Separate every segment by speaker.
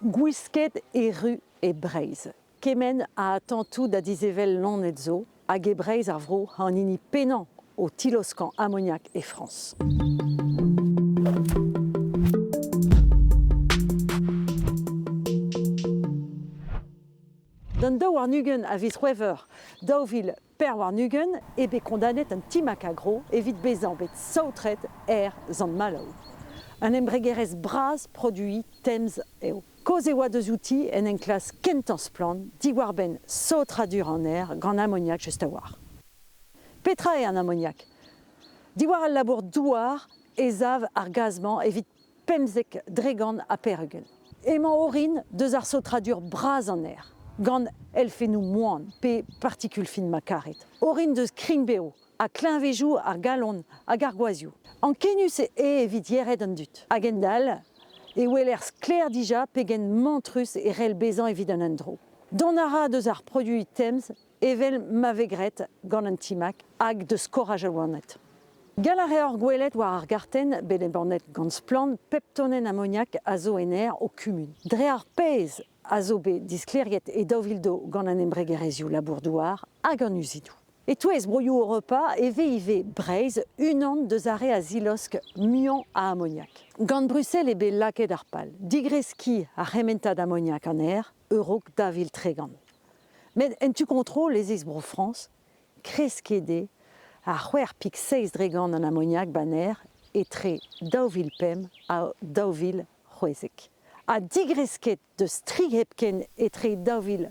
Speaker 1: Gwisket erru e Breizh. Kement ha tantoù da dizevel Lonet zo hag e Breizh ar vro an hini pennañ o tiloskañ amoniak e Frañs. D'an daou warn-ugent a viz C'hwevrer daou vil Per warn-ugent eo bet kondanet an Ti Macagro evit bezañ bet saotret er Sant-Maloù. Un embregerezh bras produiñ temz eo. Kaoz e oa deuzouti en enklask kentañ splann diwar-benn saotradur an aer gant amoniak just a-walc'h. Petra eo an amoniak? Diwar al labour douar ez av ar gaz-mañ evit pemzek dregant ha peregent. Emañ orin deus ar saotradur bras an aer, gant elfennoù moan pe partikul fin ma karit, orin deus krign-bev ha kleñvejoù ar galon hag ar gwazhioù. Ankenius eo evit yered an dud, ha gendall e weler sklaer dija pegen mantrus e c'hell bezañ evit an endro. Dont a ra deus ar produiñ temz evel ma vez graet gant an timag hag deus skoraj al loened. Gall a reor gwelet war ar gartenn bet embannet gant Splann pep tonenn amoniak a zo en aer ho kumun. Dre ar pezh a zo bet disklêriet e daou vil daou gant an embregerezhioù labour-douar hag an uzidoù. E-touez broioù Europa e vez ivez Breizh unan deus ar re a zilosk muiañ a amoniak. Gant Bruxelles eo bet lakaet ar pal digreskiñ ar c'hementad amoniak an aer e-raok dav vil tregont. Met en tu-kontrol ez eus Bro-Frañs, Kresskede, ha c'hwec'h pik seizh dre gant an amoniak baner etre daou vil pemp ha daou vil c'hwezek, ha digresket deus tri hepken etre daou vil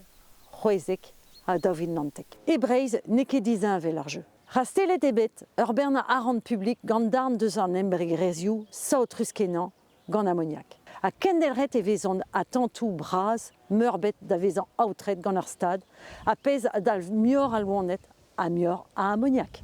Speaker 1: c'hwezek ha daou vil naontek. E Breizh n'eo ket disheñvel ar jeu. Rastellet eo bet ur bern arc'hant publik gant darn deus an embregerezhioù saotrus-kenañ gant amoniak. Ha kendelc'het e vezont atantoù bras meurbet da vezañ aotret gant ar stad, ha pezh a dalv muioc'h a loened ha muioc'h a amoniak.